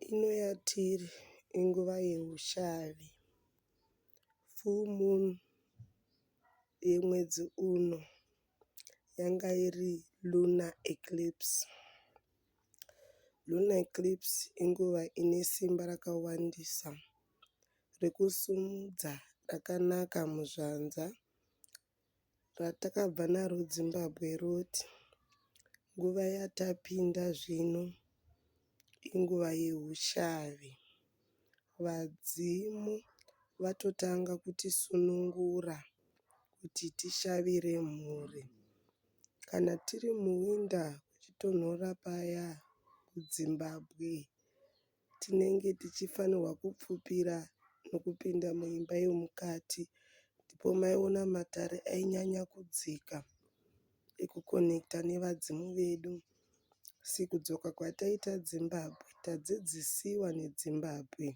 Ino yatiri inguva yehushavi, full moon yemwedzi uno yanga iri lunar eclipse. Lunar eclipse inguva ine simba rakawandisa rekusimudza rakanaka muzvanza. ratakabva naro Zimbabwe roti nguva yatapinda zvino inguva yehushavi. Vadzimu vatotanga kutisunungura kuti tishavire mhuri. Kana tiri muwinda kuchitonhora paya kuZimbabwe. tinenge tichifanirwa kupfupira nokupinda muimba yomukati ndipo maiona matare ainyanya kudzika ekuconnector nevadzimu vedu asi kudzoka kwataita Zimbabwe tadzidzisiwa neDzimbabwe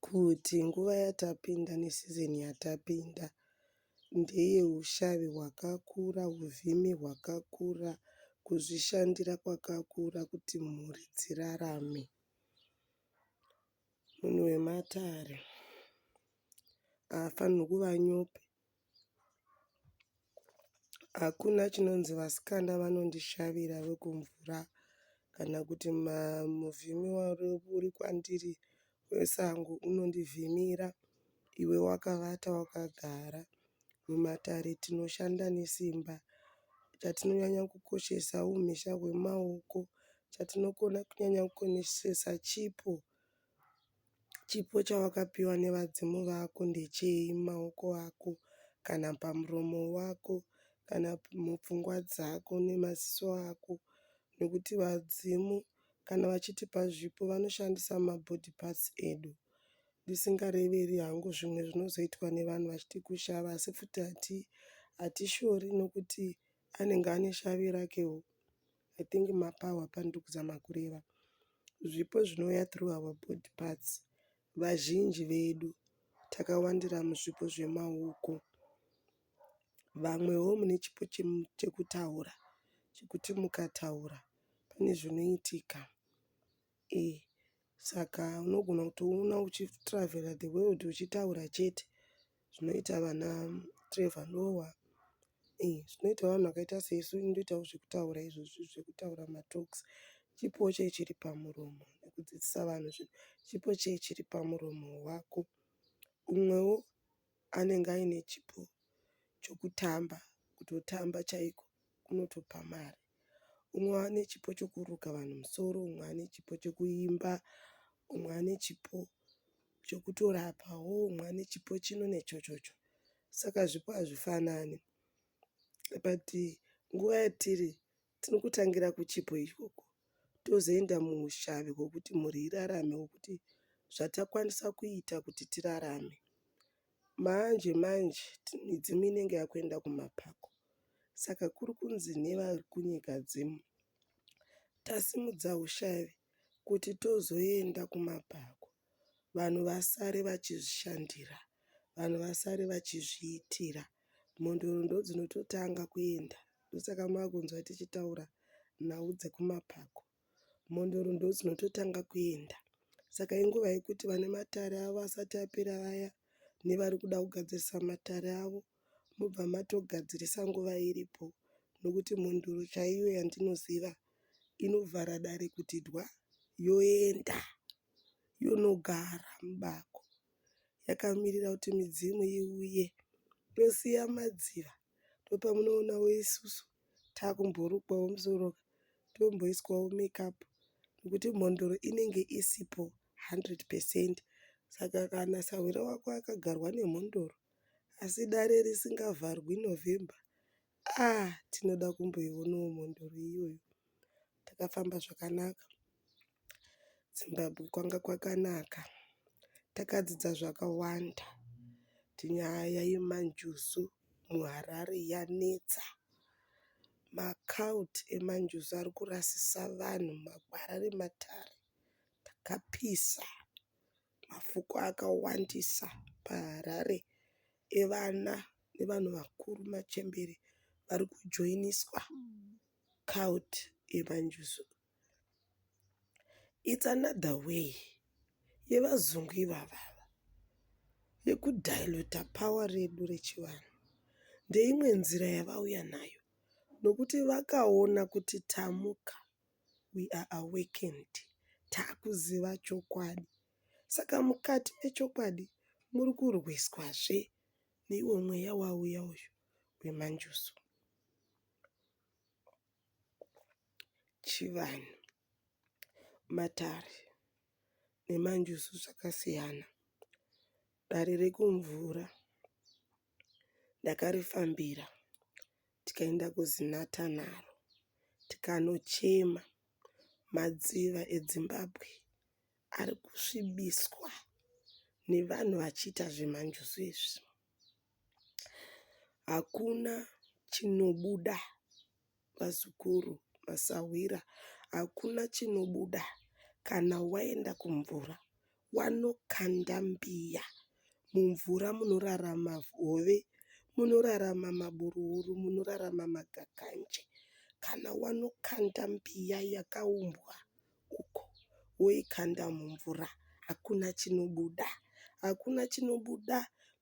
kuti nguva yatapinda neseason yatapinda ndeye hushavi hwakakura, huvhimi hwakakura, kuzvishandira kwakakura kuti mhuri dzirarame. Munhu wematare haafanirwi kuva nyope. Hakuna chinonzi vasikana vanondishavira vekumvura kana kuti muvhimi uri kwandiri wesango unondivhimira iwe wakavata wakagara. Mumatare tinoshanda nesimba. Chatinonyanya kukoshesa humhizha hwemaoko. Chatinonyanya kukoshesa chipo. Chipo chawakapiwa nevadzimu vako ndechei mumaoko ako kana pamuromo wako kana mupfungwa dzako nemaziso ako nekuti vadzimu kana vachitipa zvipo vanoshandisa mabody parts edu ndisingareveri hangu zvimwe zvinozoitwa nevanhu vachiti kushava asi futi hatishori nekuti anenge ane shavi rakewo. I think mapower pandiri kuzama kureva zvipo zvinouya through our body parts vazhinji vedu takawandira muzvipo zvemaoko vamwewo mune chipo chekutaura chekuti mukataura pane zvinoitika Eeh saka unogona kutoona uchi travheller the world uchitaura chete zvinoita vana Trevor Noah eeh zvinoita vanhu vakaita sesu inotoitawo zvekutaura izvozvi zvekutaura matalks chipo chee chiri pamuromo nekudzidzisa vanhu zvinhu chipo chee chiri pamuromo wako umwewo anenge aine chipo chokutamba kutotamba chaiko kunotopa mari. Umwe ane chipo chokuruka vanhu musoro, umwe ane chipo chokuimba, umwe ane chipo chokutorapawo, umwe ane chipo chino nechochocho. Saka zvipo hazvifanani but nguva yatiri Tinokutangira kuchipo ikoko tozoenda muushavi hwekuti mhuri irarame hwekuti zvatakwanisa kuita kuti tirarame. Manje manje midzimu inenge yakuenda kumapako saka kuri kunzi nevari kunyika dzimu tasimudza ushavi kuti tozoenda kumapako vanhu vasare vachizvishandira, vanhu vasare vachizviitira. mhondoro ndodzinototanga kuenda ndosaka makunzwa tichitaura nhau dzekumapako mhondoro ndodzinototanga kuenda saka inguva yekuti vane matare avo asati apera vaya nevari kuda kugadzirisa matare avo mobva matogadzirisa nguva iripo nokuti mhondoro chaiyo yandinoziva inovhara dare kuti dwa yoenda yonogara mubako yakamirira kuti midzimu iuye tosiya madziva ndopamunoonawo isusu takumborukwawo musoro tomboiswawo makeup nekuti mhondoro inenge isipo 100% saka kana sahwira wako akagarwa nemhondoro asi dare risingavharwi November aah tinoda kumboionawo mhondoro iyoyo. Takafamba zvakanaka Zimbabwe kwanga kwakanaka takadzidza zvakawanda kuti nyaya yemanjuzu muHarare yanetsa. Macult emanjuzu ari kurasisa vanhu mugwara rematare takapisa mafuku akawandisa paHarare evana nevanhu vakuru machembere vari kujoiniswa cult yemanjuzu. It's another way yevazungu ivava ava yeku diluter power redu rechivanhu. Ndeimwe nzira yavauya nayo nokuti vakaona kuti tamuka we are awakened takuziva chokwadi. Saka mukati mechokwadi muri kurwiswazve neiwo mweya wauya uyu wemanjuzu. Chivanhu, matare nemanjuzu zvakasiyana. Dare rekumvura ndakarifambira tikaenda kuZinatha naro tikanochema madziva eDzimbabwe. ari kusvibiswa nevanhu vachiita zvemanjuzu izvi. Hakuna chinobuda vazukuru, masahwira hakuna chinobuda kana waenda kumvura wanokanda mbiya. Mumvura munorarama hove, munorarama maburuhuru, munorarama magakanje. Kana wanokanda mbiya yakaumbwa uko woikanda mumvura hakuna chinobuda. Hakuna chinobuda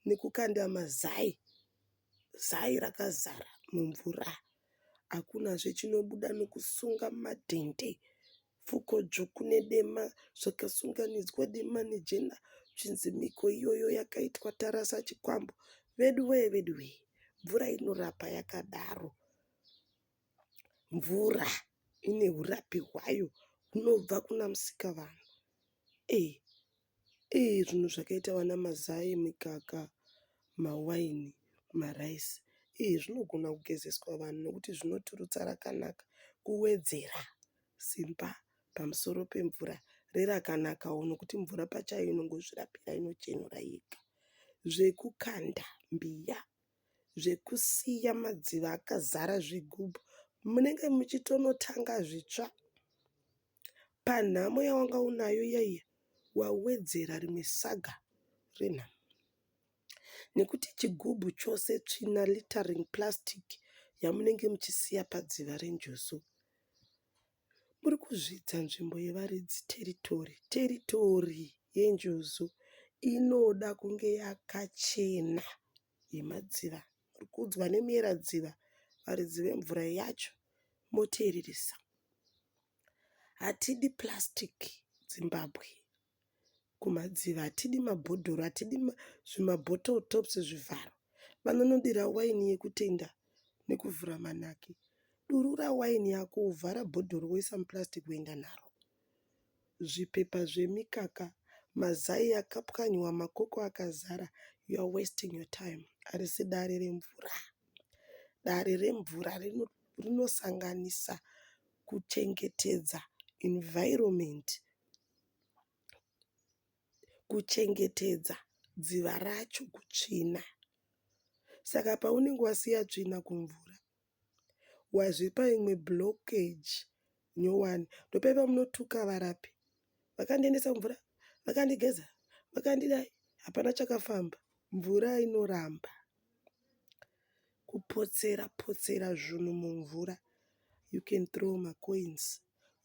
nekukanda mazai, zai rakazara mumvura. Hakunazve chinobuda nekusunga madhende, pfuko dzvuku nedema zvakasunganidzwa dema nejena zvichinzi mhiko iyoyo yakaitwa tarasa chikwambo. Veduwee veduwee mvura inorapa yakadaro. Mvura ine urapi hwayo hunobva kuna musikavanhu. Eyi eyi zvinhu zvakaita vana mazai, mikaka, mawaini, maraisi eyi zvinogona kugezeswa vanhu nekuti zvinoturutsa rakanaka kuwedzera simba pamusoro pemvura rerakanakawo nekuti mvura pachayo inongozvirapira inochenura yega. Zvekukanda mbiya. zvekusiya madziva akazara zvigubhu munenge muchitonotanga zvitsva panhamo yawanga unayo iya iya wawedzera rimwe saga renhamo nekuti chigubhu chose tsvina littering plastic yamunenge muchisiya padziva renjuzu. Muri kuzvidza nzvimbo yevaridzi territory. Territory yeNjuzu inoda kunge yakachena yemadziva. Muri kuudzwa nemuyeradziva varidzi vemvura yacho moteereresa. Hatidi plastic Zimbabwe. kumadziva hatidi mabhodhoro hatidi zvimabottle tops zvivharo vanonodira waini yekutenda nekuvhura manaki durura waini yako vhara bhodhoro woisa muplastic woenda naro zvipepa zvemikaka mazai akapwanywa makoko akazara youare wasting your time harisi dare remvura dare remvura rinosanganisa kuchengetedza environment kuchengetedza dziva racho kutsvina. Saka paunenge wasiya tsvina kumvura wazvipa imwe blockage nyowani. Ndopaya pamunotuka varapi vakandiendesa kumvura, vakandigeza, vakandidai hapana chakafamba. Mvura inoramba. Kupotsera potsera zvunhu mumvura you can throw macoins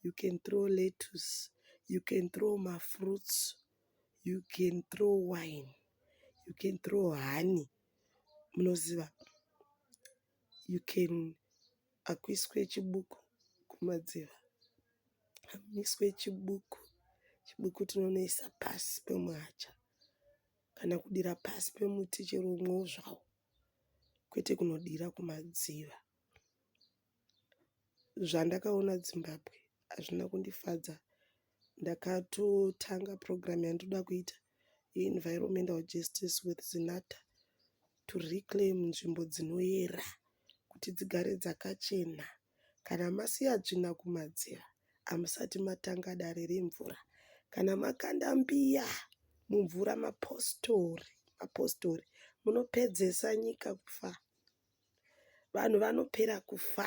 you can throw lettuce you can throw mafruits you can throw wine you can throw honey munoziva you can akuiswe chibuku kumadziva hamiswe chibuku chibuku tinonoisa pasi pemuhacha kana kudira pasi pemuti chero umwewo zvawo kwete kunodira kumadziva. Zvandakaona Zimbabwe hazvina kundifadza ndakatotanga program yandoda kuita ye environmental justice with Zinatha to reclaim nzvimbo dzinoyera kuti dzigare dzakachena. Kana masiya tsvina kumadziro hamusati matanga dare remvura. Kana makanda mbiya mumvura mapositori mapositori munopedzesa nyika kufa. Vanhu vanopera kufa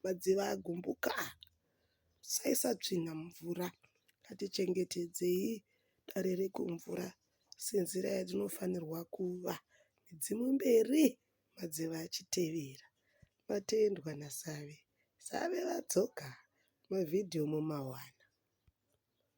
madziva agumbuka. Musaisa tsvina mumvura. Ngatichengetedzei dare rekumvura senzira yatinofanirwa kuva. Midzimu mberi. Madzeva achitevera. Matendwa naSave. Save vadzoka. Mavideo mumawana.